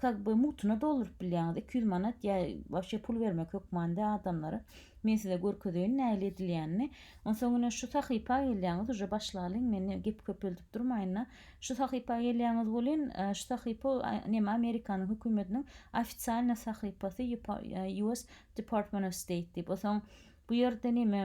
Kak by mutuna dolduryp bilýäňiz iki ýüz manat ýa wapşe pul bermek hökmande adamlara men size görkezeýin nähili edilýänini onsoň ine şu sahypa gelýäňiz uje başlalyň men gep köpeldip durmaýynda şu sahypa gelýäňiz welin şu sahypa neme amerikanyň hökümetiniň ofisialny sahypasy us department of state diýip onsoň bu ýerde neme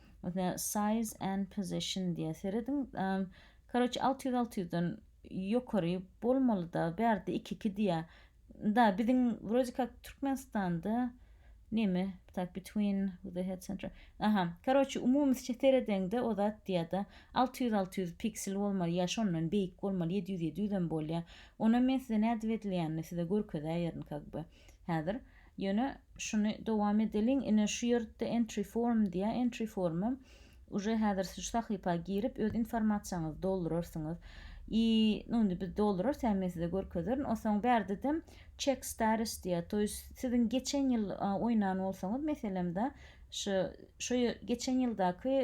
The size and position diýä serediň. Karoç alty ýüz alty ýüzden ýokary bolmalyda bärde iki iki diýä. Nda biziň wroje kak Türkmenistanda neme tak between the head center. Aha karoç umumy seredeňde o zat diýäda alty ýüz alty ýüz piksel bolmaly ýa şondan beýik bolmaly ýedi ýüz ýedi ýüzem bolýa. Onam men size nädip edilýänini size görkezäýerin kak be häzir. Ýöne şuny dowam edeliň ine şu ýertde entry form diýýär entry forma uje häzir siz şu sahypa girip öz informasiýaňyzy doldurarsyňyz i nu indi biz doldurarys ýa men size görkezerin osoň bärdede check status diýýär to ýest siziň geçen ýyl oýnan bolsaňyz meselemda şu şo geçen ýyldaky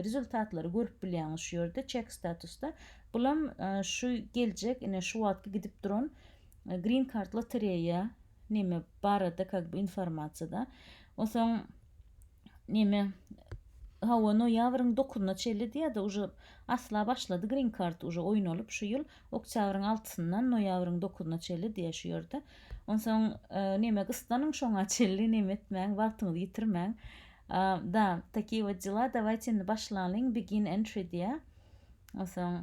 rezultatlary görüp bilýäňiz şu ýerde check statusda bulam şu geljek ine şu wagtky gidip duran green card lotereýa neme barada kag bu informasiýada onsoň neme hawa noýabryň dokuzyna çenli diýýärdi uje asla başlady grin kart uje oýnalyp şu ýyl oktýabryň altysyndan noýabryň dokuzyna çenli diýýär şu ýerde onsoň neme gyssanyň şoňa çenli neme etmäň wagtyňyzy ýitirmäň da takiýe we dila dawaýte indi başlalyň begin entry diýýär onsoň.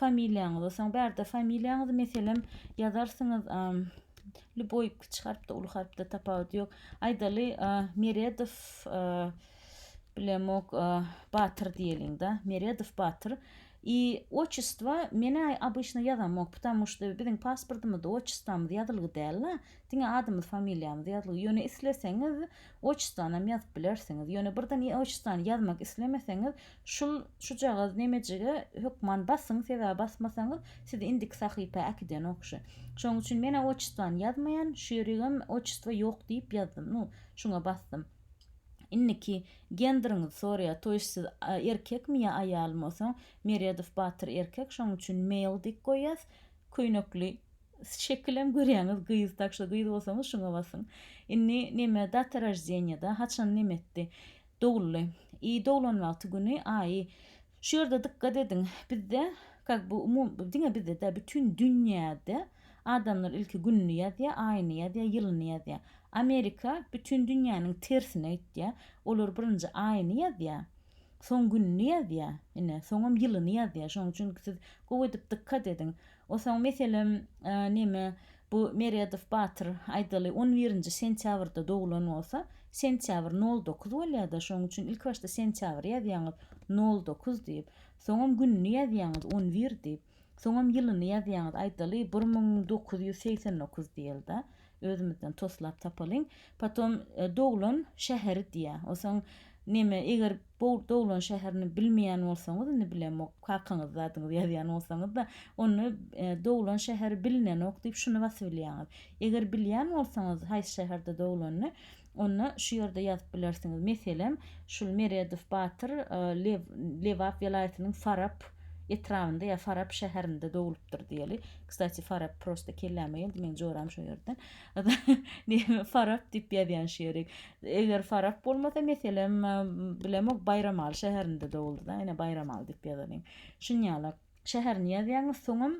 Familiýaňyzy soň bärde familiýaňyzy meselem ýazarsyňyz lýuboý kiçi harpda uly harpda tapawudy ýok aýdaly Meredow bilemok Batyr diýeliňda Meredow Batyr i otçestvo menä obyçno ýazamok putamoşto biziň pasportymyzda otçestvamyz ýazylgy dälda diňe adymyz familiýamyz ýazylgy ýöne isleseňiz otçestwanam ýazyp bilersiňiz ýöne birden otçestwany ýazmak islemeseňiz Şul şujagaz nemejige hökman basyň sebäbi basmasaňyz sizi indiki sahypa äkidenok şu şoň üçin mena oçestwany ýazmaýan şu ýerigem oçestwa ýok diýip ýazdym nu şuňa basdym indiki genderiňizi soraýar toýş siz erkekmi ýa aýalmy osoň meredow batyr erkek şoň üçin male dik goýýas köýnekli şekilem görýäňiz gyz tak şu gyz bolsaňyz şuňa basyň indi neme data raždeniýada haçan neme etdi Doguldy. I doglan wagty güni aýy Şu ýerde dykgat ediň, bizde kak bu umum diňe bizde däl, bütin dünýäde adamlar ilki gününi ýazýar, aýyny ýazýar, ýylyny ýazýar. Amerika bütin dünýäniň tersine gitýär. Olar birinji aýyny ýazýar, soň gününi ýazýar, ine, soňam ýylyny ýazýar. Şonuň üçin siz gowy edip dykgat ediň. Osaň meselem, neme, Bu Meredow batyr, aýdaly, on birinji sentýabrda doglan bolsa, sentýabr nol dokuz bolýar-da, şonuň üçin ilki başda sentýabry ýazýaňyz nol dokuz diýip, soňam gününi ýazýaňyz on bir diýip, soňam ýylyny ýazýaňyz, aýdaly, bir müň dokuz ýüz segsen dokuz diýeli-de, özümizden toslap tapalyň, potom doglan şäheri diýä, onsoň neme, eger. Bu doglan şäherini bilmeýän bolsaňyz indi bilemok kakaňyzda adyňyzy ýazýan bolsaňyzda onda doglan şäheri bilinenok diýip şuny basy bilýäňiz. Eger bilýän bolsaňyz haýsy şäherde doglanyny onda şu ýerde ýazyp bilersiňiz. Meselem şul Meredow batyr Lebap welaýatynyň Farap etrabynda ýa Farap şäherinde doglupdyr diýeli. Kstati Farap prosta kelläme geldi meň joram şo ýerden. Näme Farap diýip ýazýan şerik. Eger Farap bolmasa meselem bilemok Baýramaly şäherinde doguldyda ine Baýramaly diýip ýazalyň. Şunýala. Şäherini ýazýaňyz soňam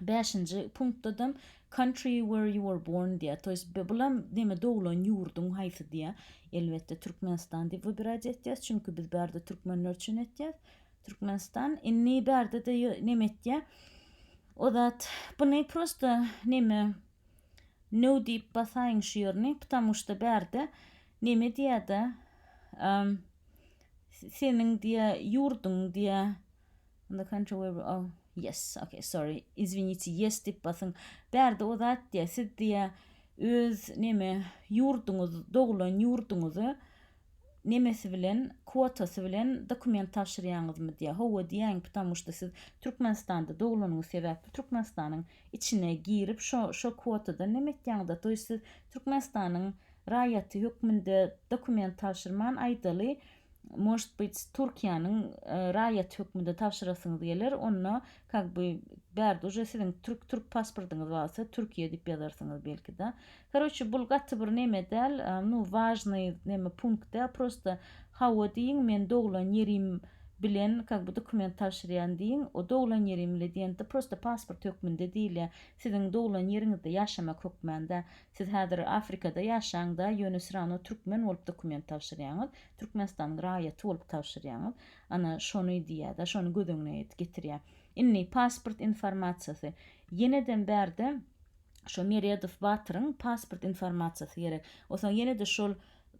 bäşinji punktdadam country where you were born diýýär. To ýest bulam neme doglan ýurduň haýsy diýýär. Elbetde Türkmenistan diýip wybirać etýäs çünki biz bärde türkmenler üçin etýäs. Türkmenistan indi bärdede neme etýär. O zat buny prosta neme No diýip basaýyň şu ýerini ptamu şda bärde neme diýäda seniň diýä ýurduň diýä In the country where we are Yes ok sorry izwinite yes diýip basyň bärde o zat diýä siz diýä öz neme ýurduňyz doglan ýurduňyzy nemesi bilen kwotasy bilen dokument tabşyrýaňyzmy diýýär. Howwa diýýän ptamou şda siz Türkmenistanda doglanyňyz sebäpli Türkmenistanyň içine girip şo şo kwotadan neme etýäňizda to ýest siz Türkmenistanyň raýaty hökmünde dokument tabşyrman aýdaly может быть Türkiýäniň raýaty hökmünde tabşyrasyňyz geler onda kak by bärde uje siziň türk türk pasportyňyz barsa Türkiýe diýip ýazarsyňyz belkida Karoçi bul gaty bir neme däl nu wažnyý neme punkt däl prosta hawa diýiň men doglan ýerim bilen kak bu dokument tabşyrýan diýiň o doglan ýerim bile diýende prosta pasport hökmünde diýilýä siziň doglan ýeriňizde ýaşamak hökmän dä siz häzir afrikada ýaşaň dä ýöne syrano türkmen bolup dokument tabşyrýaňyz türkmenistanyň raýaty bolup tabşyrýaňyz ana şony diýýä dä şony göz öňüne getirýä inni pasport informasiýasy ýenedem bärde Şo Meredow batyryň pasport informasiýasy gerek. Onsoň ýene-de şol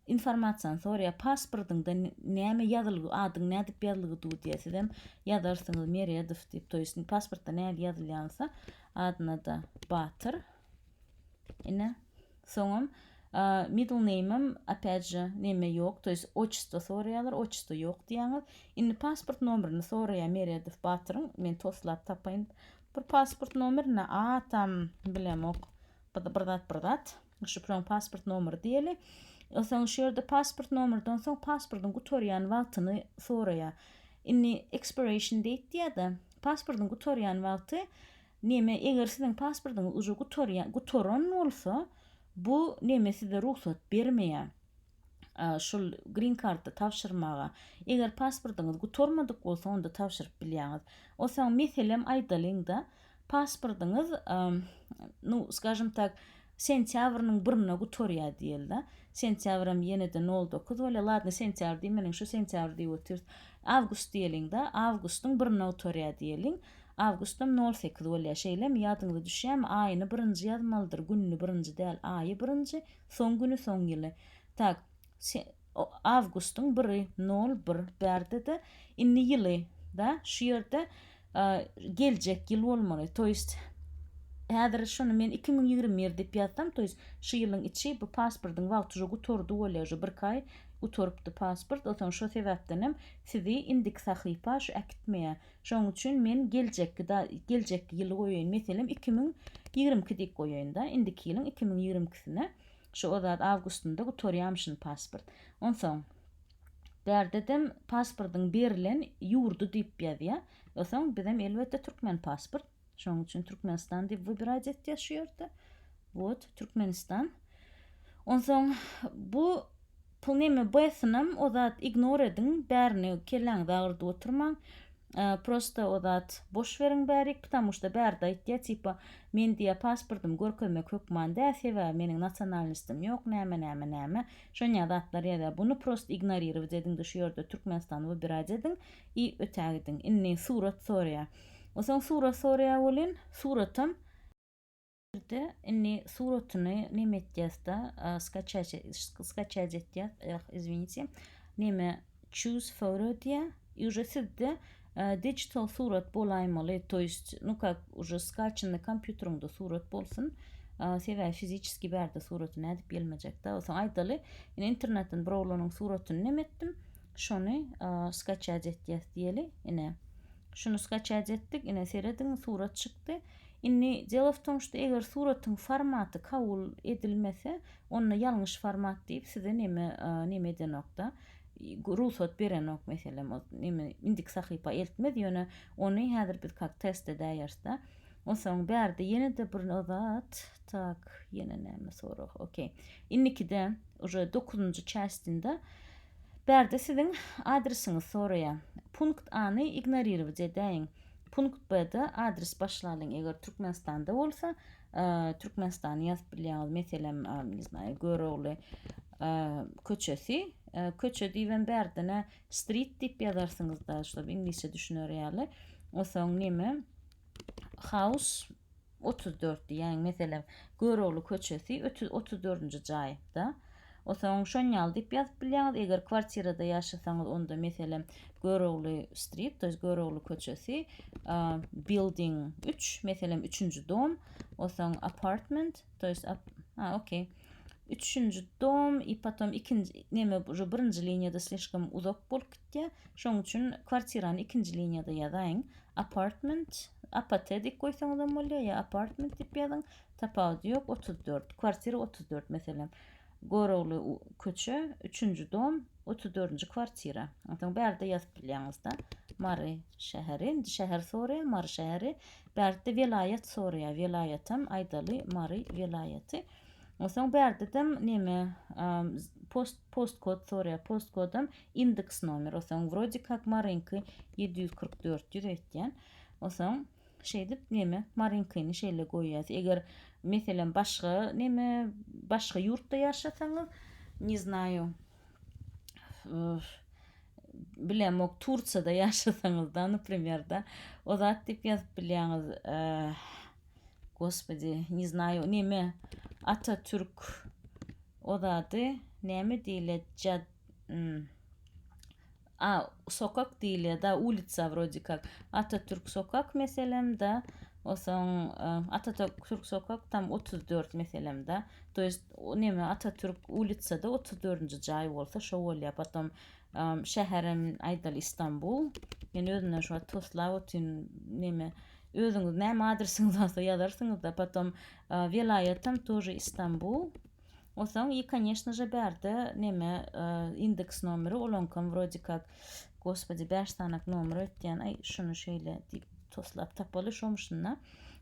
informasiýany soraýar. Pasportyňda näme ýazylgy, adyň nädip ýazylgydygy diýer. Sizem ýazarsyňyz Meredow diýip. Toýsn pasportda nädip ýazylýansa, adyna-da Batyr. Ine, soňam middle name-em opýat je neme ýok, toýs otçestvo soraýarlar, otçestvo ýok diýýäňiz. Indi pasport nomerini soraýar Meredow batyryň. Men toslap tapaýyn. Bir pasport nomerine atam bilemok. Bada bir zat bir zat. Şu plan pasport nomeri diýeli. Soň şu ýerde pasport nomerden soň pasportyň gutarýan wagtyny soraýa. Indi expiration date diýýärdi. Pasportyň gutarýan wagty neme eger siziň pasportyňyz uje gutarýan gutaran bolsa bu neme size rugsat bermeýä. şul green karty tabşyrmaga. Eger pasportyňyz gutarmadyk bolsa onda tabşyryp bilýäňiz. O saň meselem aýdalyňda pasportyňyz nu skažym tak sentýabrynyň birine gutarýa diýelda. Sentýabram ýenede nol dokuz bolýa. Ladno sentýabr diýiň meniň şu sentýabr diýip otyrs. Awgust diýeliňda awgustyň birine gutarýa diýeliň. Awgustam nol sekiz bolýa şeýlemi ýadyňyza düşýämi aýyny birinji ýazmalydyr gününi birinji däl aýy birinji Soň güni soň ýyly. Tak. Se, o, awgustyň biri, nol bir, bärde-de, indi ýyly, da, şu ýerde, a, geljek ýyl bolmaly. To ýest, häzir şony men iki müň ýigrimi bir diýip ýazsam, to ýest, şu ýylyň içi bu pasportyň wagty uje gutardy bolýar, uje birki aý gutarypdy pasport, onsoň şo sebäpdenem sizi indiki sahypa şu äkitmeýär. Şoň üçin men geljekki geljekki ýyly goýaýyn. Meselem, iki müň ýigrimi iki diýip goýaýyn-da. Indiki ýylyň iki müň ýigrimi ikisine şu ozat awgustynda gutarýamyşyn pasport. Onsoň bärdedem pasportyň berlen ýurdy diýip ýazýar. Onsoň bizem elbetde türkmen pasport. Şoň üçin Türkmenistan diýip wybirać etýär şu ýerde. Wot, Türkmenistan. Onsoň bu plneme B-synam o zat ignor ediň, bärini kelläňizi agyrdyp oturmaň. Prosta o zat boş beriň bärik, ptamu şda bärde aýtýar, tipa, men diýýär pasportymy görkezmek hökman dä, sebäbi meniň nasionalnostim ýok, näme, näme, näme. Şonýa zatlar ýazýar. Buny prosta ignorirować ediňde şu ýerde Türkmenistan wybirać ediň i ötägidiň. Indi surat soraýar. Onsoň surat soraýar welin, suratam ýerde indi suratyny neme etýäsda, skaçaç skaçaç etýäs, eh, izwinite, neme choose photo diýýär, i uje sizde digital surat bolaýmaly, to ýest, nu kak uje skaçenny kompýuteriňde surat bolsun, sebäbi fiziçeskiý bärde suraty nädip ýelmejekda, onsoň aýdaly, indi internetden bir oglanyň suratyny neme etdim, şony skaçaç etýäs diýeli, ine. Şuny skaçat etdik ine serediň surat çykdy. Indi delo w tom şda eger suratyň formaty kabul edilmese onda ýalňyş format diýip size neme neme edenokda rugsat berenok meselem ol neme indik sahypa eltmez ýöne ony häzir biz kak test edäýersda. Onsoň bärde ýenede bir zat tak ýene näme sorag okey indikide uje dokuzynjy çästinde Bärde siziň adresiňizi soraýar. Punkt A-ny ignorirować edäýiň. Punkt B-de adres başlalyň. Eger Türkmenistanda bolsa, Türkmenistany ýazyp bilýäňiz. Meselem, ne znäýo, Görogly köçesi. Köçe diýibem bärde-ne street diýip ýazarsyňyz-da, şol iňlisçe düşüner ýaly. Onsoň neme, house, Otuz dört diýýän, meselem, Görogly köçesi, ötüz, otuz dördünji jaý, da. Osaň şon ýaly diýip ýazyp bilýäňiz. Eger kwartirada ýaşasaňyz, onda, meselem, Görogly street, to ýest, Görogly köçesi, a, building üç, meselem, üçünji dom, osaň apartment, to ýest, ap, a, okey, üçünji dom i potom ikinji, neme, bu, birinji liniýada slişkom uzak bolup git. Diýýä, şoň üçin kwartirany ikinji liniýada ýazaýyň. Apartment, apater dik goýsaňyzam bolýar, ýa apartment diýip ýazyň, tapawudy ýok, otuz dört. Kwartira otuz dört, meselem, Gorogly köçe, üçünji dom, otuz dördünji kwartira. Onsoň bärde ýazyp bilýäňiz-de. Mary şäheri, indi şäher soraýar, Mary şäheri. Bärde welaýat soraýar, welaýatam aýdaly, Mary welaýaty. Onsoň bärdedem neme, post, postkod soraýar, postkodam Indeks nomer osaň wrodi kak maryňky ýedi ýüz kyrk dört ýüz aýtýan osaň şeýdip neme maryňkyny şeýle goýýas eger meselem başga neme başga ýurtda ýaşasaňyz ne znaju bilemok tursiýada ýaşasaňyzda napremýer da o zat diýip ýazyp bilýäňiz gospadi ne znaju neme atatürk o zady näme diýlet a sokak diýilýär da ulica wrode kak atatürk sokak meselem da osoň atatürk sokak tam otuz dört meselem da to ýest neme atatürk ulica da otuz dördünji jaý bolsa şo bolýar potom şäherem aýdaly istanbul men özümden şu wagt toslap otyryn neme özüňiz näme adresiňiz bolsa ýazarsyňyzda potom welaýatam тоже istanbul Osaň i конечно же bärde neme indeks nomeri olaňkam wrode kak Gospodi bäş sanak nomer öýtýän aý şuny şeýle diýip toslap tapaly şomuşynda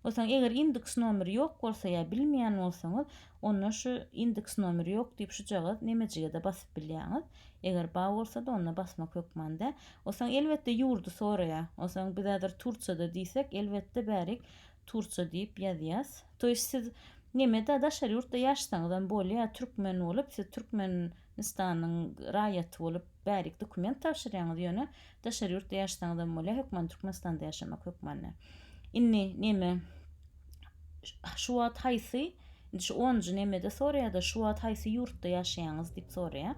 Osaň eger indeks nomeri ýok bolsa ýa bilmeýän bolsaňyz onda şu indeks nomeri ýok diýip şujagaz nemejigede basyp bilýäňiz eger ba bolsada onda basmak hökman dä Osaň elbetde ýurdy soraýa Osaň biz häzir Tursiýada diýsek elbetde bärik Turça diýip ýazýas. To ýest siz nemeda daşary ýurtda ýaşasaňyzam bolýa türkmen bolup siz türkmenistanyň raýaty bolup bärik dokument tabşyrýaňyz ýöne daşary ýurtda ýaşasaňyzam bolýa hökman türkmenistanda ýaşamak hökmanda indi neme şu wagt haýsy indi şu onunjy nemede soraýada şu wagt haýsy ýurtda ýaşaýaňyz diýip soraýa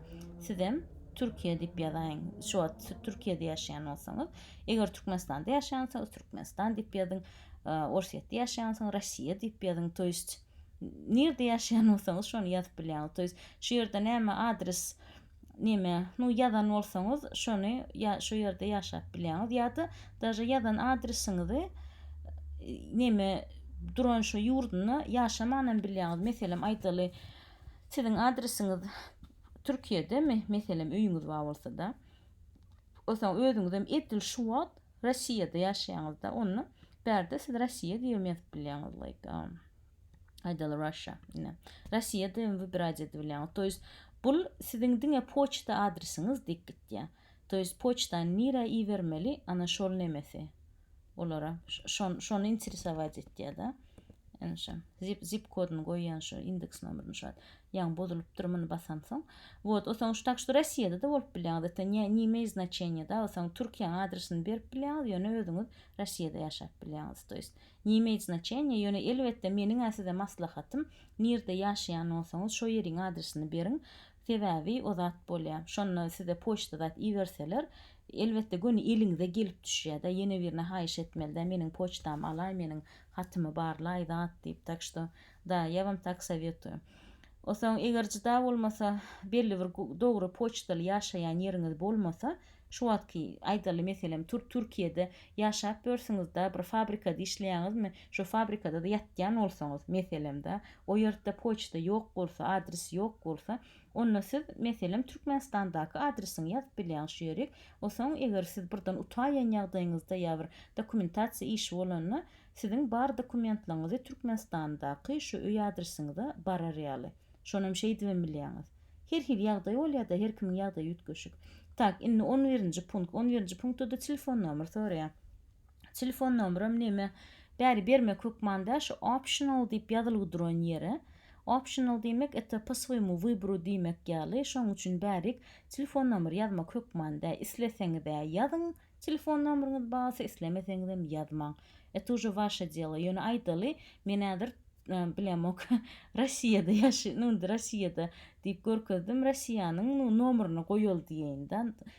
sizem türkiýe diýip ýazaýyň şu wagt siz türkiýede ýaşaýan bolsaňyz Eger Türkmenistanda ýaşaýansyňyz Türkmenistan diýip ýazyň, Orsýetde ýaşaýansyňyz Rossiýa diýip ýazyň, to ýest nirde ýaşaýan bolsaňyz şony ýazyp bilýäňiz, to ýest şu ýerde näme adres neme nu ýazan bolsaňyz şony ýa şo ýerde ýaşap bilýäňiz ýa-da daže ýazan adresiňizi neme duran şo ýurdunda ýaşamanam bilýäňiz, meselem aýdaly siziň adresiňiz Türkiýedemi meselem öýüňiz bar bolsada, Osaň özüňizem edil şu wagt Rossiýada ýaşaýaňyzda onda bärde siz Rossiýa diýibem ýazyp bilýäňiz like aýdaly Russia ine Rossiýa diýibem wybirać edibilýäňiz to ýest bul siziň diňe poçta adresiňiz diýip gitýä to ýest poçtany nirä ibermeli ana şol nemesi olara şon şony interesować etýäda enşem zip zip kodyny goýýan şu indeks nomerini şu wagt ýaňy bozulypdyr muny basan soň wot osaň şu tak şu rossiýada da bolup bilýäňiz ete ne ne imeýt znaçeniýa da osaň türkiýäň adresini berip bilýäňiz ýöne özüňiz rossiýada ýaşap bilýäňiz to ýest ne imeýt znaçeniýa ýöne elbetde meniň-ä size maslahatym nirde ýaşaýan bolsaňyz şo ýeriň adresini beriň Sebäbi o zat bolýa. Şonda size poçta zat iberseler, elbetde göni eliňize gelip düşýä-dä, ýene birine haýyş etmeli-dä, meniň poçtamy alaý, meniň hatymy barlaý zat diýip, tak što, da, ýa wam tak sowetую. Osaň eger jyda bolmasa, belli bir dogry poçtaly ýaşaýan ýeriňiz bolmasa, şu wagtky aýdaly meselem tur Türkiýede ýaşap börsüňiz-dä, bir fabrikada işleýäňizmi, şo fabrikada-da ýatýan bolsaňyz, meselem-dä, O ýertde poçta ýok bolsa, adres ýok bolsa, onda siz, meselem, Türkmenistandaky adresiňi ýazyp bilýäň şu ýerik. Osaň, eger siz birden utaýan ýagdaýyňyzda ýa bir dokumentasiýa işi bolanda, siziň bar dokumentlaňyzy Türkmenistandaky şu öý adresiňize barar ýaly. Şonam şeýdibem bilýäňiz. Her hili ýagdaý bolýa-da, her kimiň ýagdaýy üýtgeşik. Tak, indi on birinji punkt. On birinji punktda-da telefon nomer soraýar. Telefon nomerem neme? Bäri bermek hökmanda şu optional diýip ýazylygy duran ýere optional diýmek ete po swoýmu wybru diýmek ýaly şoň üçin bärik telefon nomer ýazmak hökmanda isleseňizä ýazyň telefon nomeryňyz bagsa islemeseňizem ýazmaň et uje waşe delo ýöne aýdaly men äzir bilemok rossiýada ýaşy nu indi rossiýada diýip görkezdim rossiýanyň nu nomeryny goýaly diýeýin da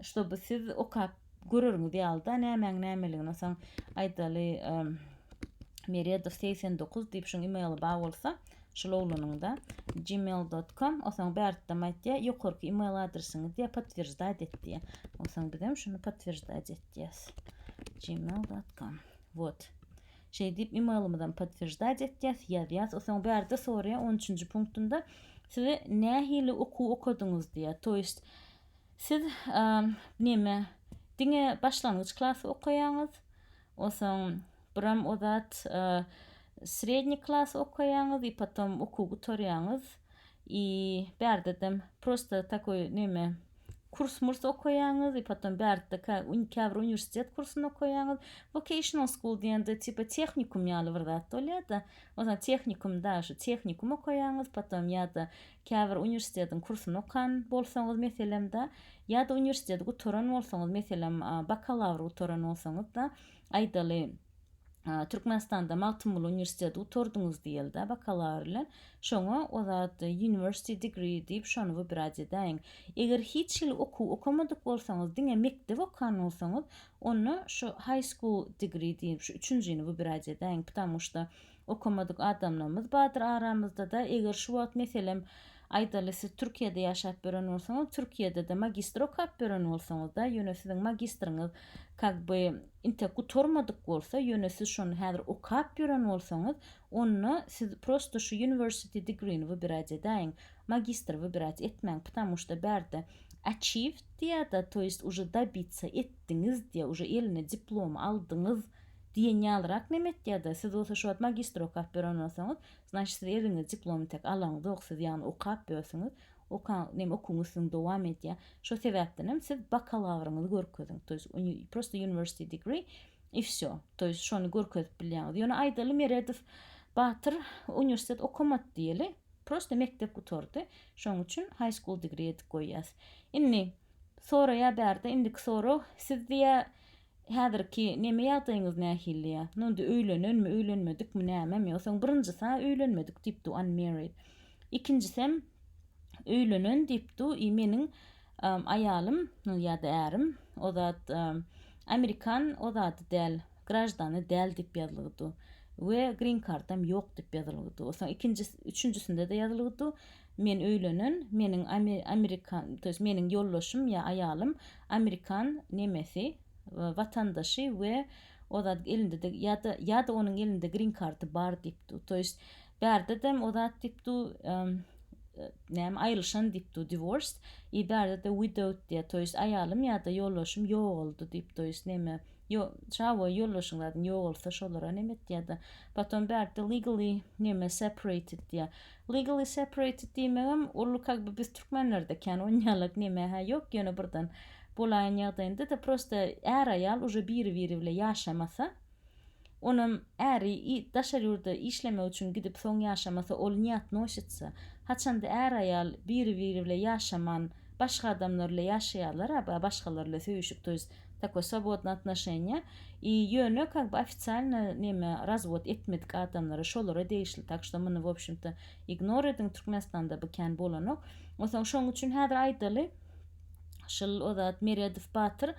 Ştoby siz okap göreriňiz ýalyda nämäň nämeligini soň aýdaly meredow segsen dokuz diýip şuň email bar bolsa şul oglanyňda gmail dot kom osoň bärtdem aýtýa ýokarky email adresiňiz diýä potwierzdad et diýä onsoň bizem şuny potwierzdad etýäs gmail dot kom wot şeý diýip emailymyzam potwierzdad etýäs ýazýas osoň bärde soraýa on üçünji punktynda size nähili okuw okadyňyz diýä to ýest Siz näme diňe başlangyç klasy okaýaňyz? Osaň biram ozat srednýi klasy okaýaňyz i potom okuw gutarýaňyz i bärdedem prosta takoý näme kurs murs okaýaňyz i potom bärde käbir uniwersitet kursyny okaýaňyz. Vocational school diýende tipa tehnikum ýaly bir zat bolýada. Osaň tehnikum daşy tehnikum okaýaňyz potom ýada Käbir uniwersitetiň kursyny okan bolsaňyz meselemda ýa-da uniwersiteti gutaran bolsaňyz meselem bakalawr gutaran bolsaňyzda aýdaly Türkmenistanda Magtymguly uniwersiteti gutardyňyz diýelida bakalawr bilen şoňa ozat university degree diýip şony wybirać edäýiň. Eger hiç hili okuw okamadyk bolsaňyz diňe mekdep okan bolsaňyz onda şu high school degree diýip şu üçünjini wybirać edäýiň ptamu şda Okamadyk adamlarymyz bardyr aramyzdada eger şu wagt meselem aýdaly siz türkiýede ýaşap ýören bolsaňyz türkiýedede magistr okap ýören bolsaňyzda ýöne siziň magistriňiz kak by intek gutarmadyk bolsa ýöne siz şony häzir okap ýören bolsaňyz onda siz prosto şu university degree ni wybirać edäýiň magistr wybirać etmäň ptamuşda bärde achieved diýäda to ýest uje dobitsa etdiňiz diýä uje eline diplomy aldyňyz Diýen ýalyrak nemetýada siz bolsa şu wagt magistr okap bören bolsaňyz znaçt siz eliňiz diplomy tek alaňzok siz ýagny okap börsiňiz oka neme okuwyňyz siziň dowam edýä şo sebäpdenem siz bakalawryňyzy görkeziň to ýest uni prosta university degree i wsýo to ýest şony görkezip bilýäňiz ýöne aýdaly meredow batyr uniwersitet okamady diýeli prosta mekdep gutardy şoň üçin high school degree edip goýýas indi soraýa bärde indiki sorag siz diýä Häzirki neme ýagdaýyňyz nähili? Nundy öýlenenmi, öýlenmedikmi, nämemi? O soň birinjis-ä öýlenmedik diýipdi, unmarried. Ikinjisem öýlenen diýipdi, i meniň aýalym, nu ýa-da ärim, o zat amerikan o zady däl, graždany däl diýip ýazylgydy we grinkartam ýok diýip ýazylgydy. O soň ikinjis üçünjisinde-de ýazylgydy. Men öýlenen, meniň amerikan, to ýest meniň ýoldaşym ýa aýalym amerikan nemesi, watandaşy we o zat elinde-de ýa-da ýa-da onuň elinde grin karty bar diýip dur. To ýest bärde-de o zat diýip dur, näme aýrylyşan diýip dur, divorced, i bärde-de widowed diýýär, to ýest aýalym ýa-da ýoldaşym ýogaldy diýip, to ýest neme, ýo, şa we ýoldaşyň zadyň ýogalsa şolara neme et ýa-da. Potom bärde legally neme separated diýýär. Legally separated diýmegem ol kag by biz türkmenlerde kän onýalak neme hä ýok ýöne birden bolaýan ýagdaýynda da prosta är aýal uje biri biri bile ýaşamasa onam äri i daşary ýurda işlemek üçin gidip soň ýaşamasa ol ne atnoşitsa haçanda är aýal biri biri bile ýaşaman başga adamlar bile ýaşaýarlar a başgalar bile söýüşip toýs Takoi swobodny atnoşenýa i ýöne kak by ofitsialno neme razwod etmedik adamlara şolara degişli tak şto muny wobşemto ignor ediň türkmenistanda by kän bolanok onsoň şoň üçin häzir aýdaly şl ozat meredow batyr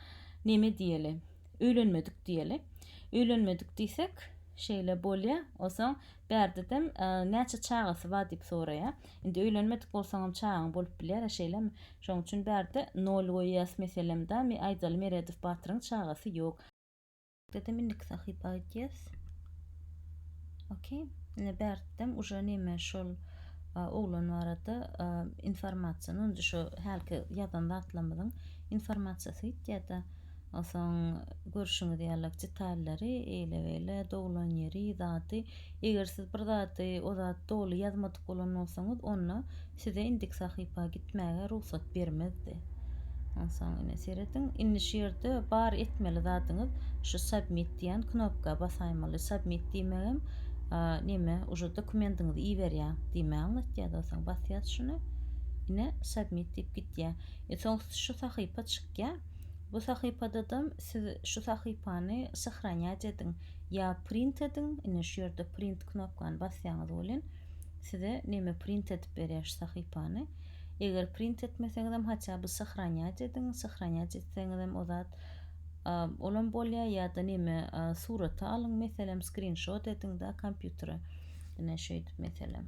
neme diýeli öýlenmedik diýeli öýlenmedik diýsek şeýle bolýa onsoň bärdedem näçe çagasy ba diýip soraýa. Indi öýlenmedik bolsaňam çagaň bolup biler-ä şeýlemi? Şoň üçin bärde nol goýýas meselem da mi aýdaly Meredow batyryň çagasy ýok. Dedem indiki sahypa gidýäs. Ok. Ine bärtdem uje neme şol oglan barada informasiýany indi şo hälki ýazan zatlarymyzyň informasiýasy gidýä da. Onsoň görşüňiz ýaly detallary eýle-beýle doglan ýeri, zady, eger siz bir zady o zat doly ýazmadyk bolan bolsaňyz onda size indiki sahypa gitmäge rugsat bermezdi. Onsoň ine serediň indi şu ýerde bar etmeli zadyňyz şu submit diýen knopka basaýmaly submit diýmegem neme uje dokumendiňizi iberýä diýmä aňlatýa dostum basýas şuna ine submit diýip gitýä e soň şu sahypa çykýa. Bu sahypadadam siz şu sahypany sahranýat ediň ýa print ediň, ine şu ýerde print knopkany basýaňyz welin size neme print edip berýär şu sahypany. Eger print etmeseňizem haça by sahranýat ediň, sahranýat etseňizem o zat olam bolýar ýa-da neme surata alyň meselem skrinşot ediňda kompýutere ine şeýdip meselem.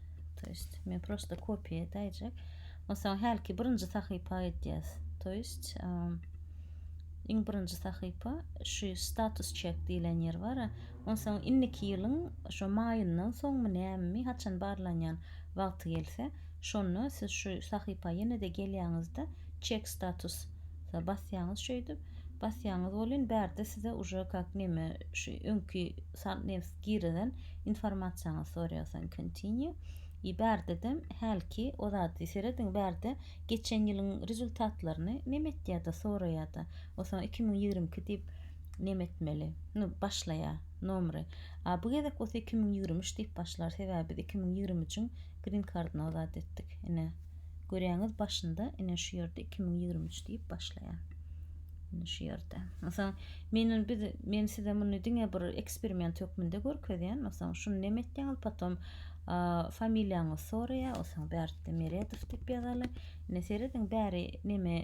To ýest, men prosta kopiýa edäýjek. Onsoň hälki birinji sahypa gidýäs. To ýest, iň birinji sahypa şu status çek diýlen ýer bar. Onsoň indiki ýylyň şo maýyndan soňmy nämemi haçan barlanýan wagty gelse, şonda siz şu sahypa ýene-de gelýäňiz-de, çek status a basýaňyz şeýdip, basýaňyz welin bärde size uje kak neme şu öňki sal nebs girizen informasiýaňy sorýar soň continue i bärde dedem hälki o zady serediň bärde geçen ýylyň rezultatlaryny neme etýärda soraýarda o soň iki müň ýigrimi iki diýip neme etmeli nu başlaýar nomry a bu gezek bolsa iki müň ýigrimi üç diýip başlar sebäbi biz iki müň ýigrimi üciň green kardyny o zady etdik ine görýäňiz başynda ine şu ýerde iki müň ýigrimi üç diýip başlaýar. Indi şu ýerde. Mesalan, men indi biz men size muny diňe bir eksperiment hökmünde görkezýän. Mesalan, şuny näme etýäňiz? Potom familiýaňyzy soraýar. Osaň bärde Meredow diýip ýazaly. Ine serediň, bäri näme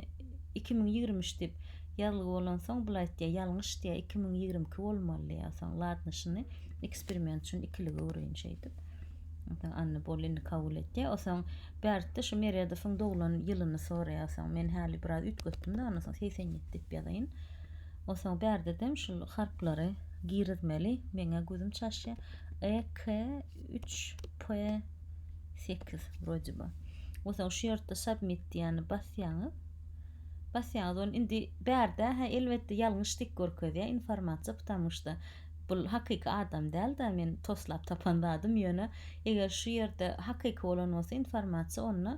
2023 diýip ýazylgy bolansoň, bul aýtýar, ýalňyş diýýär, 2022 bolmaly diýýär. Osaň ladno şuny eksperiment üçin ikili göwreýin şeýdip. Onsoň Anna Bolini kabul etýär. Onsoň bärde şu Meredowyň doglan ýylyny soraýar. Onsoň men häli biraz üýtgetdim-de, ondan soň segsen ýedi diýip ýazaýyn. Onsoň bärdedem şul harplary girizmeli. Meň-ä gözüm çaşýar. EK üç P sekiz wrodyba. Onsoň şu ýerde submit diýeni basýaňyz. Basýaňyz ony indi bärde-hä elbetde ýalňyş tik görkezýär informasiýa, ptamuşda Bul hakyky adam dälda men toslap tapan zadym ýöne eger şu ýerde hakyky bolan bolsa informasiýa onda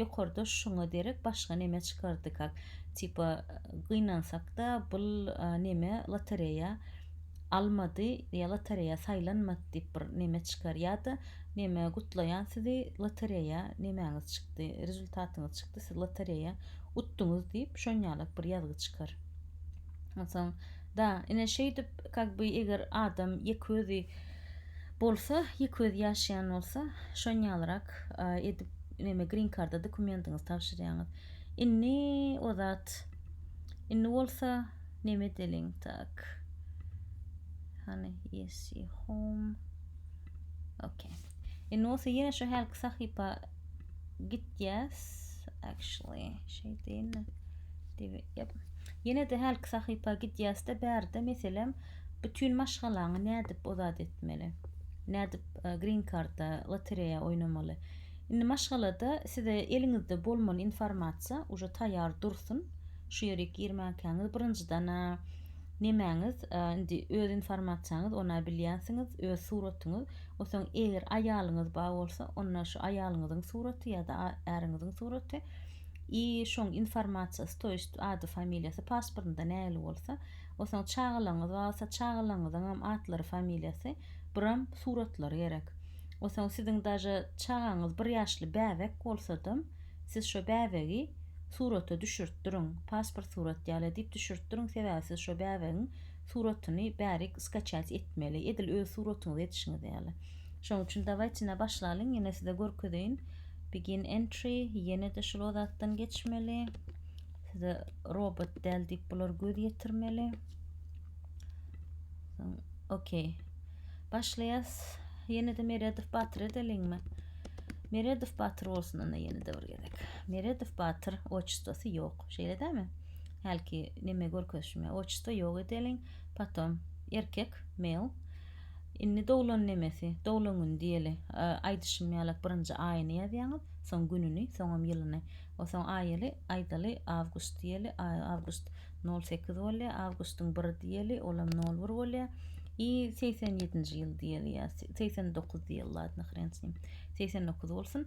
ýokarda şuňa derek başga neme çykardykak tipa gynansakda bul neme lotoreýa almady ýa lotoreýa saýlanmady diýip bir neme çykar ýada neme gutlaýan sizi lotoreýa nemäňiz çykdy rezultatyňyz çykdy siz lotoreýa utduňyz diýip şonýalak bir ýazgy çykar onsoň Da, ine şeýdip kak by eger adam ýeke özi bolsa, ýeke özi ýaşaýan bolsa, şonýalrak edip neme green karda dokumendiňizi tabşyrýaňyz. Indi o zat indi bolsa neme edeliň tak. Hany ýesi home. Okey. Indi bolsa ýene şu hälki sahypa git ýaz actually şey değildi dibi yap yine de halk sahipa git ýaz da bärde meselem bütün maşgalaňy nädip ozat etmeli nädip e, green karta lotereya oynamaly indi maşgalada size eliňizde bolmaly informasiýa uje taýar dursun şu ýere girmänkäňiz birinjiden nemäňiz e, indi öz informasiýaňyz ona bilýänsiňiz öz suratyňyz Onsoň eger aýalyňyz bar bolsa, onda şu aýalyňyzyň suraty ýa-da äriňiziň suraty i şoň informasiýasy, to ýest ady, familiýasy pasportynda nägili bolsa, onsoň çagalaryňyz bar bolsa, çagalaryňyzyň hem atlary, familiýasy, biram suratlary gerek. Onsoň siziň daže çagaňyz bir ýaşly bäbek bolsadam, siz şo bäbegi surata düşürtdiriň, pasport suraty ýaly diýip düşürtdiriň, sebäbi siz şo bäbegiň suratyny bärik skaçat etmeli edil öz suratyňyzy edişiňiz ýaly şoň üçin dawaytine başlalyň ýene size görkezeýin begin entry ýenede şul ozatdan geçmeli size robot däl diýip bular göz ýetirmeli soň ok başlaýas ýenede meredow batyr edeliňmi meredow batyr bolsun onda ýenede bir gezek meredow batyr oçistosy ýok şeýle dämi Hälki neme görkezişme otçestvo ýok edeliň potom erkek mel indi doglan nemesi doglan gün diýeli aýdyşym ýalak birinji aýyny ýazýaňyz soň gününi soňam ýylyny osoň aýyly aýdaly awgust diýeli awgust nol sekiz bolýa awgustyň biri diýeli olam nol bir bolýa i segsen ýedinji ýyl diýeli ýa segsen dokuz diýeli ladno hren s nim segsen dokuz bolsun.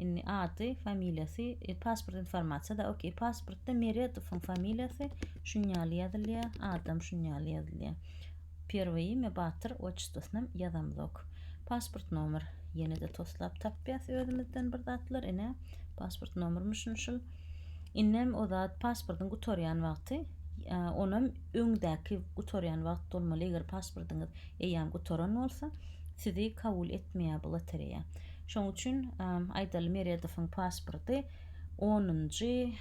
Indi ady, familiýasy, pasport informasiýada ok. Pasportda Meredowyň familiýasy şunýaly ýazylýar, adam şunýaly ýazylýar. Perwoýe imýa Batyr, otçestwosynam ýazamzok. Pasport nomer. Ýene-de toslap tapýas özümizden bir zatlar. Ine, pasport nomerimiz şunşul. Indem o zat pasportyň gutarýan wagty, onam öňdäki gutarýan wagt bolmaly. Eger pasportyňyz eýýäm gutaran bolsa, sizi kabul etmeýär bu lotereýa. Şonuň üçin Aýdaly Meredowyň pasporty onunjy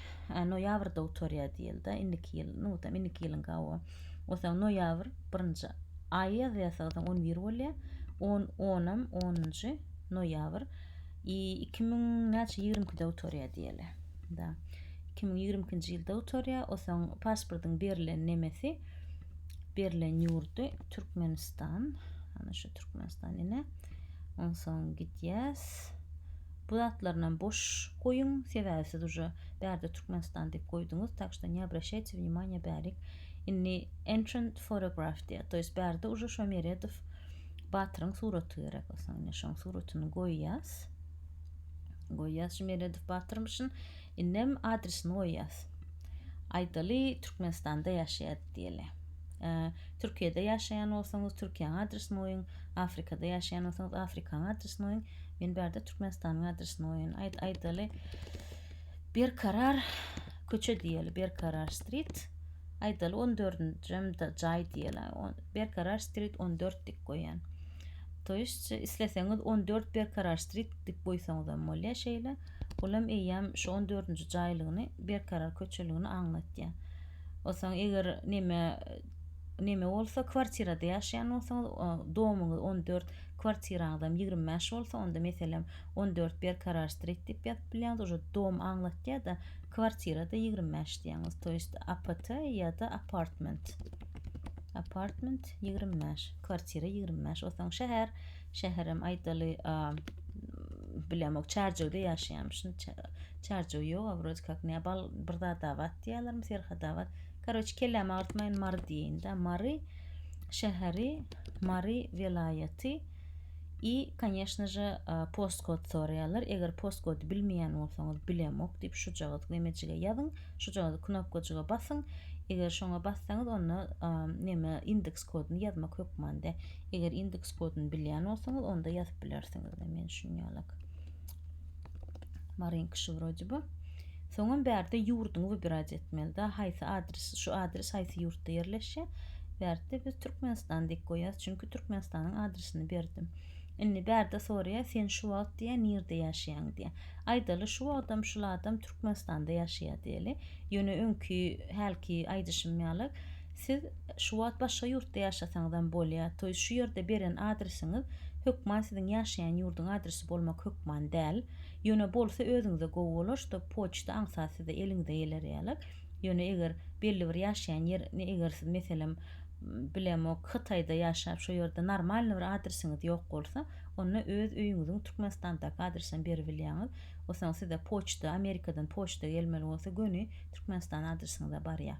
noýabrda gutarýar diýildi. Indiki ýyl, nu, tam indiki ýylyň gaby. Bolsa noýabr birinji aý ýazýarsyňyzam on bir bolýar. On, onam onunjy noýabr. I iki müň näçe ýigrimi ikide gutarýar diýeli. Da. Iki müň ýigrimi ikinji ýylda gutarýar. Osaň pasportyň berlen nemesi, berlen ýurdy Türkmenistan. Ana şu Türkmenistan ine. Onsoň gidýäs. Bu zatlarynam boş goýuň, sebäbi siz uje bärde Türkmenistan diýip goýduňyz, tak şto ne obraşaýte wnimanýa bärik. Indi entrant fotograf diýýär. To ýest bärde uje şo Meredow batyryň suraty gerek. Onsoň indi şoň suratyny goýýas. Goýýas şu Meredow batyrmyşyn. Indem adresini goýýas. Aýdaly Türkmenistanda ýaşaýarys diýeli. Türkiýede ýaşaýan bolsaňyz Türkiýäň adresini goýuň, Afrikada ýaşaýan bolsaňyz Afrikaň adresini goýuň. Men bärde Türkmenistanyň adresini goýan. Aýdaly Berkarar köçe diýeli, Berkarar street. Aýdaly on dördünjem jaý diýeli. Berkarar street on dört dik goýan. To ýest isleseňiz on dört Berkarar street dik goýsaňyzam bolýar şeýle. Olam eýýäm şu on dördünji jaýlygyny, berkarar köçeliligini aňlatýar. Bolsaň eger neme neme bolsa kwartirada ýaşaýan bolsaňyz domyňyz on dört kwartiraňyzam ýigrimi bäş bolsa onda meselem on dört berkarar strik diýip ýazyp bilýäňiz oža dom aňlatýada kwartirada ýigrimi bäş diýýäňiz to ýest apt ýada apartment apartment ýigrimi bäş kwartira ýigrimi bäş bolsaň şäher Şäherem aýdaly bilemok çarjewde ýaşaýamyşyn çarjew ýoga wroc kak nä bal birzadabat diýýälermi serhadabat karoç kellämi agyrtmaýyn mary diýeýin da mary şäheri mary welaýaty i конечно же postkod soraýarlar eger postkody bilmeýän bolsaňyz bilemok diýip şujagaz nemejige ýazyň şujagaz knopkajyga basyň eger şoňa bassaňyz onda neme indeks kodyny ýazmak hökmanda Eger indeks koduny bilýän bolsaňyz onda ýazyp bilersiňizde men şun ýalak. Marin kişi wrodi bu. Soňam bärde ýurduňy wybirać etmeli da haýsy adres şu adres haýsy ýurtda ýerleşýär. Bärde biz Türkmenistan dek goýýas çünki Türkmenistanyň adresini berdim. Indi bärde soraýar sen şu wagt diýä nirde ýaşaýaň diýä. Aýdaly şu wagtam şul adam Türkmenistanda ýaşaýar diýeli. Ýöne öňki hälki aýdyşym ýalak Siz şu wagt başga ýurtda ýaşasaňyzam bolýar, to ýest şu ýerde beren adresiňiz hökman siziň ýaşaýan ýurduň adresi bolmak hökman däl. Ýöne bolsa özüňize gowy bolar şda poçta aňsat size eliňize geler ýaly. Ýöne eger belli bir ýaşaýan ýer ni eger siz meselem bilemok hytaýda ýaşap şo ýerde normalny bir adresiňiz ýok bolsa onda öz öýüňiziň türkmenistandaky adresem beribilýäňiz. Osaň size poçta amerikadan poçta gelmeli bolsa göni türkmenistan adresiňize barýar.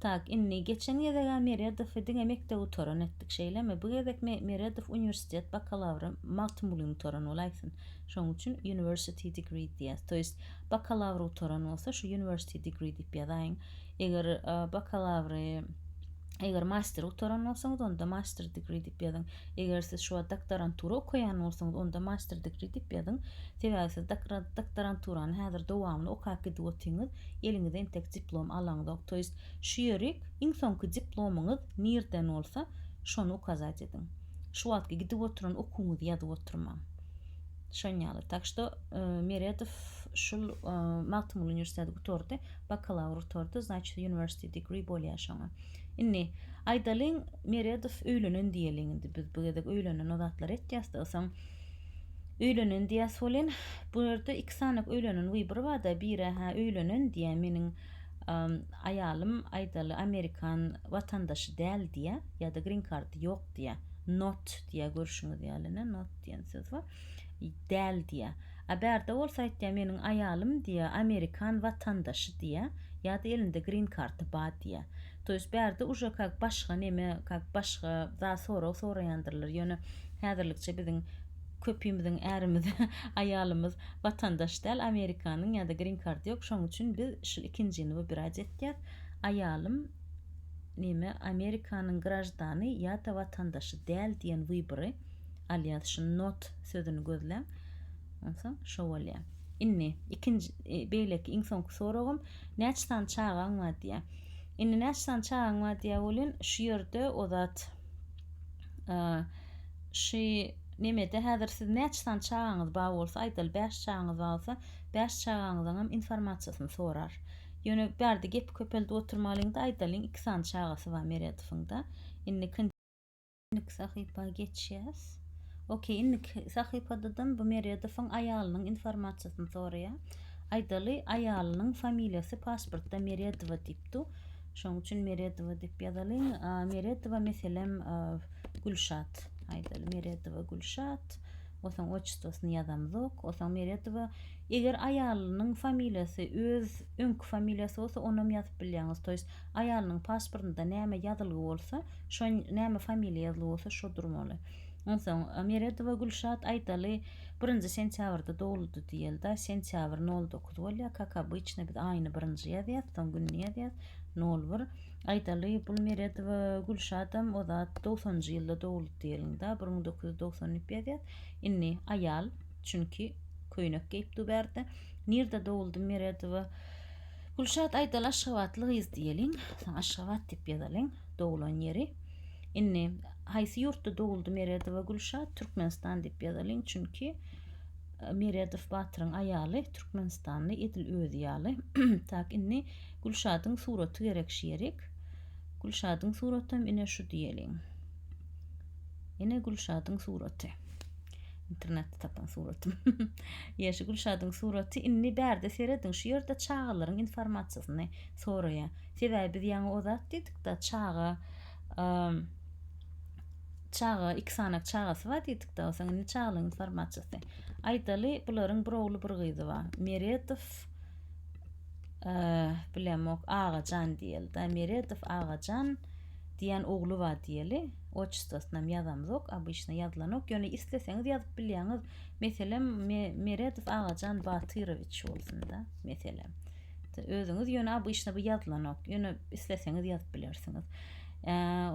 Tak, indi, geçen gezeg-ä Meredowy diňe mekdebutaran etdik, şeýlemi? Bu gezek Meredow uniwersitet bakalawry Magtymgulyňutaran bolaýsyn. Şonuň üçin University degree diýýäs. To ýest, bakalawrutaran bolsa, şu University degree diýip ýazaýyň. Eger bakalawry, eger masterutaran bolsaňyz, onda master degree diýip ýazyň. Eger siz şu wagt doktorantura okaýan bolsaňyz, onda master degree diýip ýazyň. Sebäbi siz doktoranturany häzir dowamly okap gidip otyňyz. eliňize entek diplom alaňzok to ýest şu ýerik iň soňky diplomyňyz nirden bolsa şony ukazat ediň şu wagtky gidip oturan okuwyňyzy ýazyp oturmaň şon ýaly tak şto meredow şul magtymguly uniwersiteti gutardy bakalawr gutardy znaçt uniwersiti digri bolýa şoňa indi aýdalyň meredow öýlenen diýeliň indi biz bu gezek öýlenen o zatlar etýäsda soň Öýlenen diýýä sol in bu ýerde iki sany öýlenen we bir barda bire hä öýlenen diýýä meniň aýalym aýdaly amerikan watandaşy däl diýýä ýada grin kardy ýok diýýä not diýýä görüşiňiz ýaly ine not diýen söz bar däl diýýä a bärde bolsa aýtýa meniň aýalym diýýä amerikan watandaşy diýýä ýada elinde grin karty ba diýýä to ýest bärde uje kak başga neme kak başga zat sorag soraýandyrlar ýöne häzirlikçe biziň Köpimiziň ärimiz, aýalymyz watandaş däl Amerikanyň ýa-da green card ýok şoň üçin biz şul ikinjini wybirać etýäs. Aýalym neme Amerikanyň graždany ýa-da watandaşy däl diýen wybory alýas şu not sözüni gözläň onsoň şo bolýa. Inni ikinji beýleki iň soňky soragym näçe sany çagaň bar diýä. Inni näçe sany çagaň bar diýä welin şu ýerde ozat Şy Memede häzir siz näçe sany çagaňyz bar bolsa aýdaly bäş çagaňyz bar bolsa bäş çagaňyzyňam informasiýasyny sorar. Ýöne bärde gepi köpeldip oturmalyňda aýdalyň iki sany çagasy bar Meredowyňda. Indiki Indiki sahypa geçýäs. Ok indiki sahypadadan bu Meredowyň aýalynyň informasiýasyny soraýar. Aýdaly aýalynyň familiýasy pasportda Meredowa diýip dur. Şoň üçin Meredowa diýip ýazalyň. Meredowa meselem Gülşat aýdaly. Meredowa Gülşat. Osoň otçestwosyny ýazamzok. Osoň Meredowa eger aýalynyň familiýasy öz öňki familiýasy bolsa onam ýazyp bilýäňiz. To ýest aýalynyň pasportynda näme ýazylgy bolsa şo näme familiýa ýazly bolsa şo durmaly. Onsoň Meredowa Gülşat aýdaly birinji sentýabrda doguldy diýeli-da sentýabr nol dokuz bolýar kak obýçny biz aýny birinji ýazýas soň gününi ýazýas nol bir aýdaly bul meredowa gülşadam o zat dogsanjy ýylda doglup diýeliňda bir müň dokuz ýüz dogsan diýip ýazýas indi aýal çünki köýnek geýip dur bärde nirde doguldy meredowa gülşat aýdaly aşgabatly gyz diýeliň soň aşgabat diýip ýazalyň doglan ýeri indi haýsy ýurtda doguldy meredowa gülşat türkmenistan diýip ýazalyň çünki Meredow batyryň aýaly türkmenistanly edil özi ýaly tak indi Gülşadyň suraty gerek şerik Gülşadyň suratam ine şu diýeliň ine Gülşadyň suraty internetde tapan suratym ýe şu Gülşadyň suraty indi bärde serediň şu ýerde çagalaryň informasiýasyny soraýa sebäbi biz ýaňy ozat diýdik da çaga Çaga, iki sany çagasy bar diýdik-de, olsa indi çagalyk informasiýasy. Aýdaly, bularyň bir ogly, bir gyzy bar. Meredow bilemok, Agajan diýeli-de. Meredow Agajan diýen ogly bar diýeli. Otçestosyny hem ýazamzok, obyçny ýazylanok. Ýöne isleseňiz ýazyp bilýäňiz. Meselem, Meredow Agajan Batyrowiç bolsun-da, meselem. Özüňiz ýöne obyçny bu ýazylanok. Ýöne isleseňiz ýazyp bilersiňiz.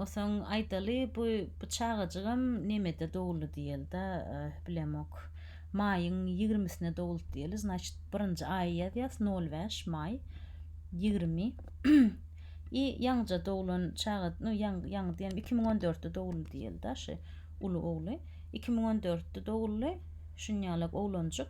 Osaň aýdaly bu bu çagajygam nemede doguldy diýelida bilemok. Maýyň ýigrimisine doguldy diýeli. Znaçt birinji aýy ýazýas nol bäş maý ýigrimi. I ýaňyja doglan çaga nu ýaňy ýaňy diýen iki müň on dörtde doguldy diýelida şu uly ogly. Iki müň on dörtde doguldy. Şunýalak oglanjyk.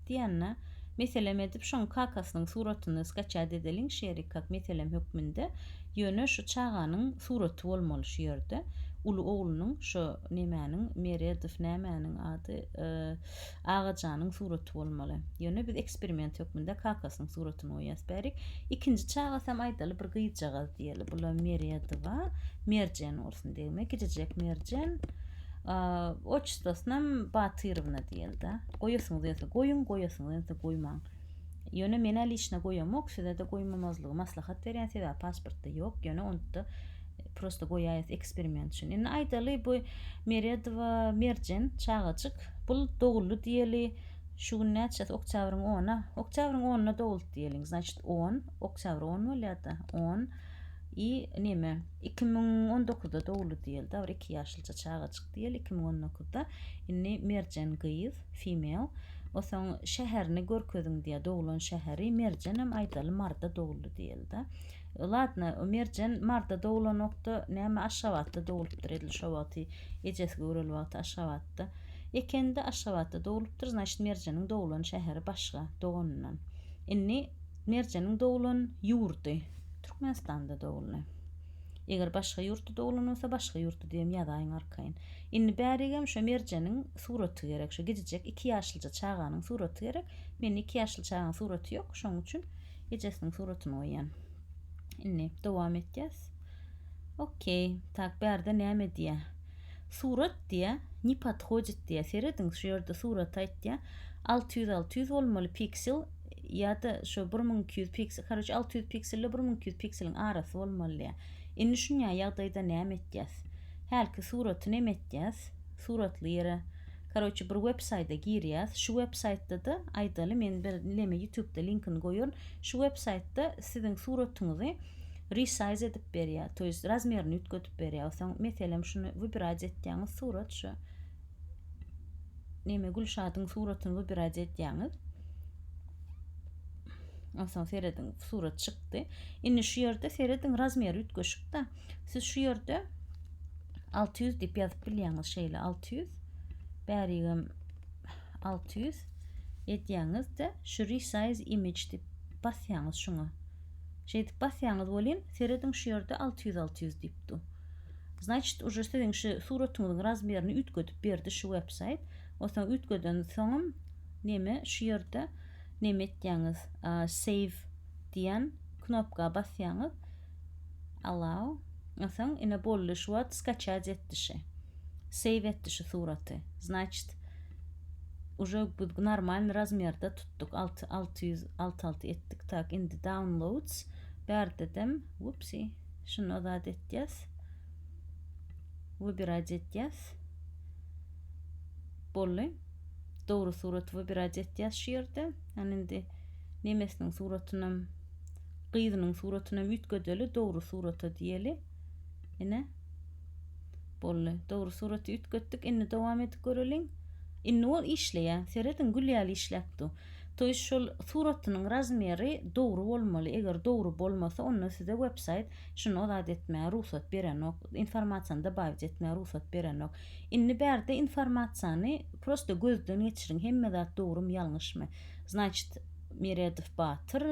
Diýanna, Meselem edip şoň kakasynyň suratyny skaçat edeliň şeri kak meselem hökmünde, ýöne şu çaganyň suraty bolmaly şu ýerde, uly oglunyň şo nemäniň Meredow nämäniň ady agajanyň suraty bolmaly. Ýöne biz eksperiment hökmünde kakasynyň suratyny goýas bärik. Ikinji çagasam aýdaly bir gyzjagaz diýeli. Bula Meredowa Merjen bolsun degme girijek Merjen. Otçustasynam Batyrowna diýel-dä. Goýasyňyz gelse goýuň, goýasyňyz gelmese goýmaň. Ýöne men-ä liçno goýamok, size-de goýmamazlygy maslahat berýän, sebäbi pasportda ýok, ýöne onda prosto goýaýas eksperiment üçin. Indi aýdaly bu Meredowa Merjen çagajyk bul doguldy diýeli, şu gün näçesi oktýabryň ony, oktýabryň onyna doguldy diýeliň, znaçit on, oktýabr on bolýa-da, on, I neme, iki müň on dokuzda doguldy diýeli da, bir iki ýaşlyja çagajyk diýeli, iki müň on dokuzda. Indi Merjen gyz, female. Osaň şäherini görkeziň diýýär, doglan şäheri. Merjenem aýdaly marda doguldy diýeli da. Ladna, o Merjen marda dogulanok-da, näme Aşgabatda doglupdyr edil şo wagty, ejesi göwreli wagty Aşgabatda eken-de, Aşgabatda doglupdyr, znaçt Merjeniň doglan şäheri başga, doganyndan. Indi. Merjeniň doglan ýurdy Türkmenistanda doguldy. Eger başga ýurtda doglan bolsa başga ýurtda diýem ýazaýyň arkaýyn. Indi bärigem şo Merjeniň suraty gerek şo gidijek iki ýaşlyja çaganyň suraty gerek. Mende iki ýaşly çagaň suraty ýok şoň üçin ejesiniň suratyny goýýan. Indi dowam etýäs. Okey. Tak bärde näme diýýä. Surat diýýä ne podhodit diýýä. Serediň şu ýerde suraty aýtýa. Alty ýüz alty ýüz bolmaly piksel Ýa-da şo bir müň iki ýüz piksel, karoçe, alty ýüz pikselle bir müň iki ýüz pikseliň arasy bolmaly diýýär. Indi şunýa ýagdaýda näme etýäs? Hälki suraty näme etýäs? Suratly ýere, karoçe, bir web saýta girýäs. Şu web saýtda-da, aýdaly, men bir neme ýutubda linkini goýaryn. Şu web saýtda siziň suratyňyzy resize edip berýär, to ýest, razmerini üýtgedip berýär. Soň meselem şuny wybirać etýäňiz, surat şu. neme Gülşadyň suratyny wybirać edýäňiz. Onsoň serediň surat çykdy. Indi şu ýerde serediň razmeri üýtgeşikde. Siz şu ýerde 600 diýip ýazyp bilýäňiz şeýle 600. Bärigem 600 edýäňizde şu resize image diýip basýaňyz şuňa. Şeýdip basýaňyz welin serediň şu ýerde 600 600 diýip dur. Znaçyt uje siziň şu suratyňyzyň razmerini üýtgedip berdi şu websaýt. Osaň üýtgeden soňam neme şu ýerde neme etýäňiz save diýen knopka basýaňyz allow osaň ine boldy şu wagt skaçat etdi şe save etdi şu suraty znaçyt uje biz normalny razmerde tutduk alty alty ýüz alty alty etdik tak indi downloads bärdedem wupsi. Şuny azat etýäs. Wybiraj etýäs. Boldy. Dogry suraty wybiraj etýäs şu ýerde. Ýani indi nemesiniň suratynam, gyzynyň suratynam üýtgedeli, dogry surata diýeli. Ine. Boldy. Dogry suraty üýtgetdik. Indi dowam edip göreliň. Indi ol işleýär. Serediň, gül ýaly işläp dur. To jest şol suratynyň razmeri dogry bolmaly eger dogry bolmasa onda size websaýt şuny ozat etmäge rugsat berenok informasiýany dabawic etmäge rugsat berenok indi bärde informasiýany prosta gözden geçiriň hemme zat dogrymy ýalňyşmy znaçit meredow batyr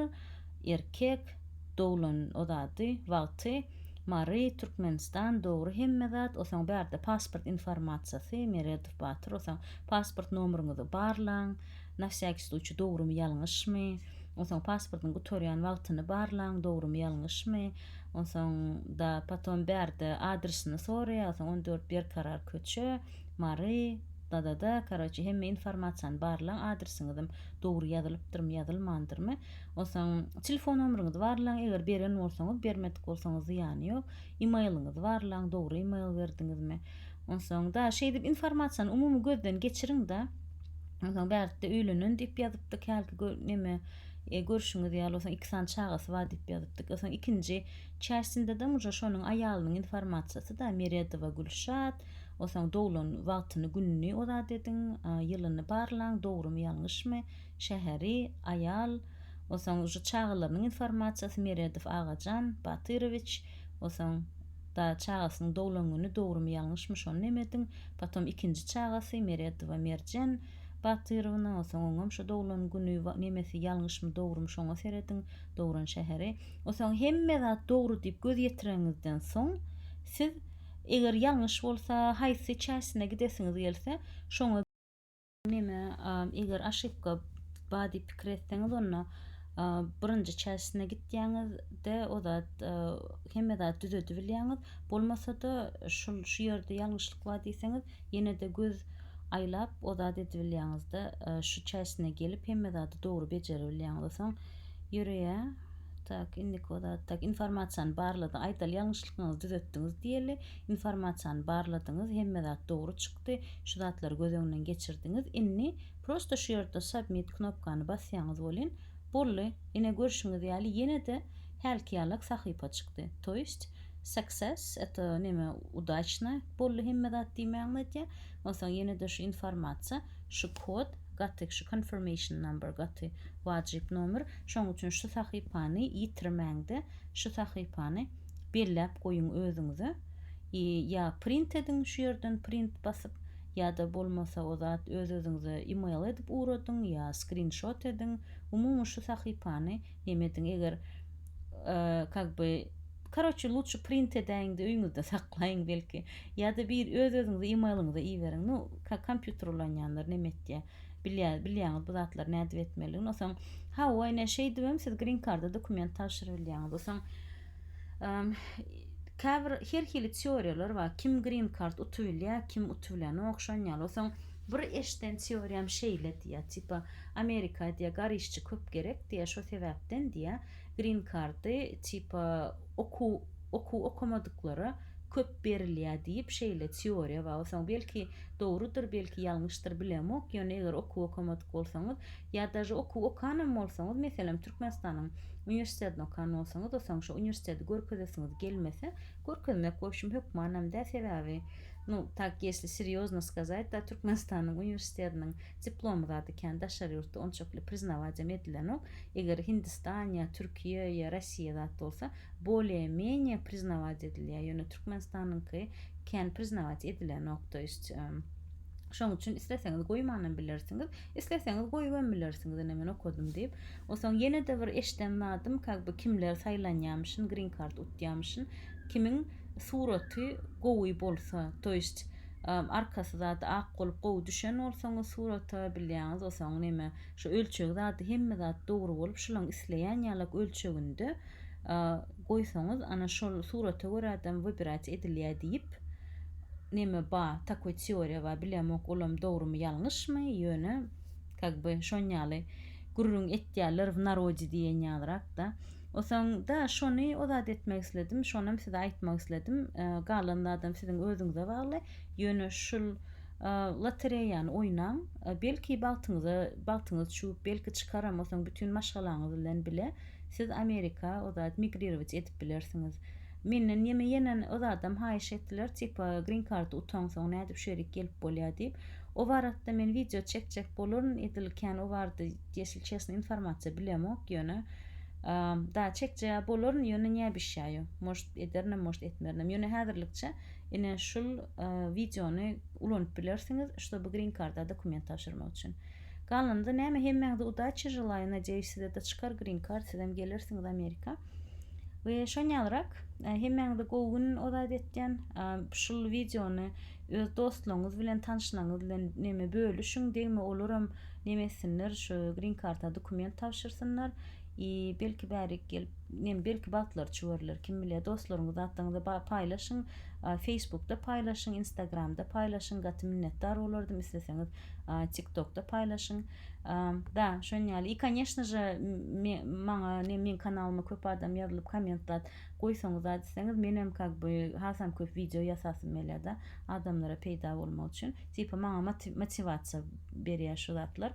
erkek doglan ozady wagty mary türkmenistan dogry hemme zat osaň bärde pasport informasiýasy meredow batyr osaň pasport nomeriňizi barlaň. Na wsýaki sluçy dogrymy ýalňyşmy? Onsoň pasportyň gutarýan wagtyny barlaň dogrymy ýalňyşmy? Onsoň da potom bärde adresini soraýar onsoň on dört berkarar köçe, Mary, da-da-da karoçe hemme informasiýany barlaň adresiňizem dogry ýazylypdyrmy ýazylmandyrmy? Onsoň telefon nomeriňizi barlaň eger beren bolsaňyz bermedik bolsaňyz zyýany ýok. Emailyňyzy barlaň dogry email berdiňizmi? Onsoň da şeýdip informasiýany umumy gözden geçiriň-da. Onsoň bärde öýlenen diýip ýazypdyk, hälki gö neme, e, görşüňiz ýaly, onsoň iki sany çagasy bar diýip ýazypdyk. Onsoň ikinji çäşdindedem uje şonuň aýalynyň informasiýasy-da, Meredowa Gülşat, onsoň doglan wagtyny, gününi o zat ediň, a, ýylyny barlaň, dogrumy, ýalňyşmy, şäheri, aýal, onsoň uje çagalarynyň informasiýasy, Meredow Agajan Batyrowiç, onsoň, Daýy çagasynyň doglan güni dogrymy ýalňyşmy şony Memediň, potom ikinji çagasy Meredowa Merjen Batyrowna, o soň oňam şo doglan güni va nemesi ýalňyşmy dogrymy şoňa serediň, dogran şäheri, o soň hemme zat dogry diýip göz ýetireňizden soň siz eger ýalňyş bolsa haýsy çäsine gidesiňiz gelse şoňa. Meme, eger aşypka ba diýip pikir etseňiz onda birinji çäşine gitýäňiz de o zat hemme zat düzedibilýäňiz bolmasada şul şu ýerde ýalňyşlyk ba diýseňiz ýenede göz aýlap o zat edibilýäňizde şu çäşine gelip hemme zady dogry bejeribilýäňiz o soň ýöreýä tak indiki o zat tak informasiýany barladyň aýdaly ýalňyşlygyňyzy düzetdiňiz diýeli informasiýany barladyňyz hemme zat dogry çykdy, şu zatlary göz öňünden geçirdiňiz, indi prosto şu ýerde submit knopkany basýaňyz welin, boldy, ine görşüňiz ýaly ýene-de hälki ýalak sahypa çykdy, to ýest success, eto neme udaçna boldy hemme zat diýmäňizi aýdýar, onsoň ýene-de şu informasiýa, şu kod gaty, şu confirmation number gaty wajyp nomer, şonuň üçin şu sahypany ýitirmäňde şu sahypany. belläp goýuň özüňize i ýa print ediň şu ýerden print basyp ýa-da bolmasa o zat öz özüňize email edip ugradyň ýa skrinşot ediň umumy şu sahypany neme ediň eger kak by karoçe lutşy print edäýiňde öýüňizde saklaýyň belki ýa-da bir öz özüňize emailyňyza iberiň nu kak kompýuter ulanýanlar neme etýä. Bilýär, bilýäňiz bu zatlary nädip etmelidigini. Onsoň, Hawa, ine, şeýdibem siz Green Card-a dokument tabşyrybilýäňiz. Onsoň, ym, käbir her hili teoriýalar bar. Kim Green Card utubilýär, kim utubilenok, şon ýaly. Onsoň, bir eşiden teoriýam şeýle diýýär, tipa, Amerika diýýär, garýşçy köp gerek diýýär, şo sebäpden diýýär, Green karty tipa okuw okuw okamadyklara köp berilýä diýip şeýle teoriýa bar. Soň belki dogrudyr belki ýalňyşdyr bilemok ýöne eger okuw okamadyk bolsaňyz ýa daže okuw okanam bolsaňyz meselem Türkmenistanyň uniwersitedini okan bolsaňyz da soň şo uniwersitedi görkezesiňiz gelmese görkezmek goýşum hökmanam däl sebäbi nu tak ýesli serýozno skazat da Türkmenistanyň uniwersitediniň diplomy zady kän daşary ýurtda onçakly priznawatjam edilenok Eger Hindistan ýa Türkiýe ýa Rossiýa zat bolsa bolýa menýa priznawać edilýä ýöne Türkmenistanyňky kän priznawać edilenok to ýest şoň üçin isleseňiz goýmanam bilersiňiz isleseňiz goýubam bilersiňiz ine men okadym diýip onsoň ýenede bir eşden zadym kagby kimler saýlanýamyşyn grin kart utýamyşyn kimiň suraty gowy bolsa to ýest arkasy zady ak bolup gowy düşen bolsaňyz surata bilýäňiz onsoň neme Şu ölçeg zady hemme zat dogry bolup şulaň isleýän ýalak ölçeginde goýsaňyz ana şol surata görädem wybirasiýa edilýä diýip neme ba takoý teoriýa ba bilemok olam dogrymy ýalňyşmy ýöne kak by şonýaly gürrüň etýäler w narode diýen ýalyrakda osaň da şony o zady etmek isledim şonam size aýtmak isledim galan zadam siziň özüňize bagly ýöne şul Lotereýany oýnaň, belki bagtyňyza bagtyňyz çüwüp, belki çykaram, o soň bütin maşgalaňyz bilen bile siz Amerika o zat migrirowat edip bilersiňiz. Menden ýeme ýenen o zadam haýyş etdiler, tipa grin kardy utaň soň nädip şu ýerik gelip bolýa diýip. O baratda men wideo çekjek bolaryn edil kän o barda ýeşil çesna informasiýa bilemok ýöne da çekjä bolaryn ýöne nä bişýa ýo. Может ederinem, может etmerinem. Ýöne häzirlikçe Ine şul wideony ulanyp bilersiňiz ştoby green karda dokument tabşyrmak üçin. Galanda näme hemmäňize udaçi želaýu nadeýuş sizede çykar green kard sizem gelersiňiz amerika. We şon ýalyrak hemmäňize gowy gün ozat etýän şul wideony öz dostlaryňyz bilen tanyşlaryňyz bilen neme bölüşiň degme olaram neme etsinler şu green karda dokument tabşyrsynlar I, belki bärik gelip, nem belki bagtlary çüweriler, kim bilýär, dostlaryňyz zatlaryňyzy ba paýlaşyň, a feýsbukda paýlaşyň, instagramda paýlaşyň, gaty minnetdar bolardym, isleseňiz, a tiktokda paýlaşyň, a da, şon ýaly, i koneşno že, me maňa, nem meň kanalyma köp adam ýazylyp komment zat goýsaňyz zat isleseňiz, menem kak by hasam köp wideo ýasasym gelýär da, adamlara peýda bolmak üçin, tipa maňa mati matiwasiýa berýär şu zatlar.